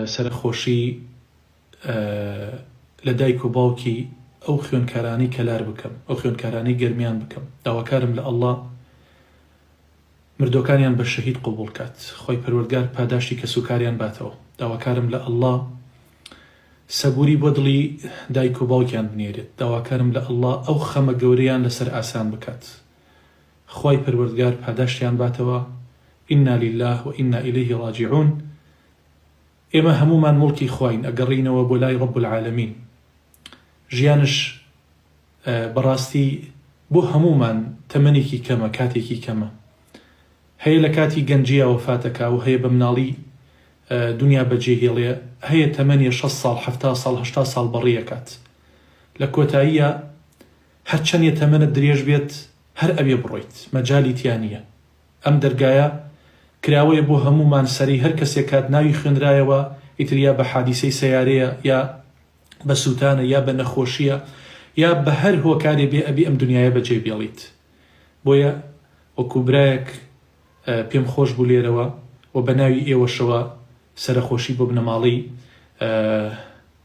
سەرەخۆشی لە دایک و باوکی ئەو خوێنکارانەی کەلار بکەم ئەو خوێنکارانەی گەرمیان بکەم داواکارم لە اللە مردوەکانیان بە شەهید قبوڵ کات خۆی پەروەردگار پاداشتی کەس و کاریان باتەوە داواکارم لە اللە سەبوری بۆ دڵی دایک و باوکیان بنێرێت داواکارم لە اللە ئەو خەمە گەورەیان لەسەر ئاسان بکات خی پەروەردگار پاداشتیان باتەوە ئینا لله و ئینا ئیلیه ڕاجعون ئێمە هەموومان موڵکی خواین ئەگەڕێینەوە بۆ لای رب العالمین ژیانش بەڕاستی بۆ هەموومان تەمەنێکی کەمە کاتێکی کەمە هەیە لە کاتی گەنجیا وەفاتەکە و هەیە بە مناڵی دنیا بەجێ هێڵێ هەیە تەمەنی 6 ساڵ ه ساڵ ه ساڵ بەڕیەکات لە کۆتاییە هەرچەندە تەمەنە درێژ بێت هەر ئەوێ بڕۆیت مەجای تیانە ئەم دەرگایە کراوەیە بۆ هەموومان سەرەی هەر کەسێک کات ناوی خوێنرایەوە ئیتر یا بە حادیسەی سەیارەیە یا بە سوتانە یا بە نەخۆشیە یا بە هەر هۆکارێ بێ ئەبی ئەم دنیایە بە جێ بێڵیت بۆیە وەکو برایەک پێم خۆش بوو لێرەوە وە بە ناوی ئێوەشەوە سەرەخۆشی بۆ بنەماڵەی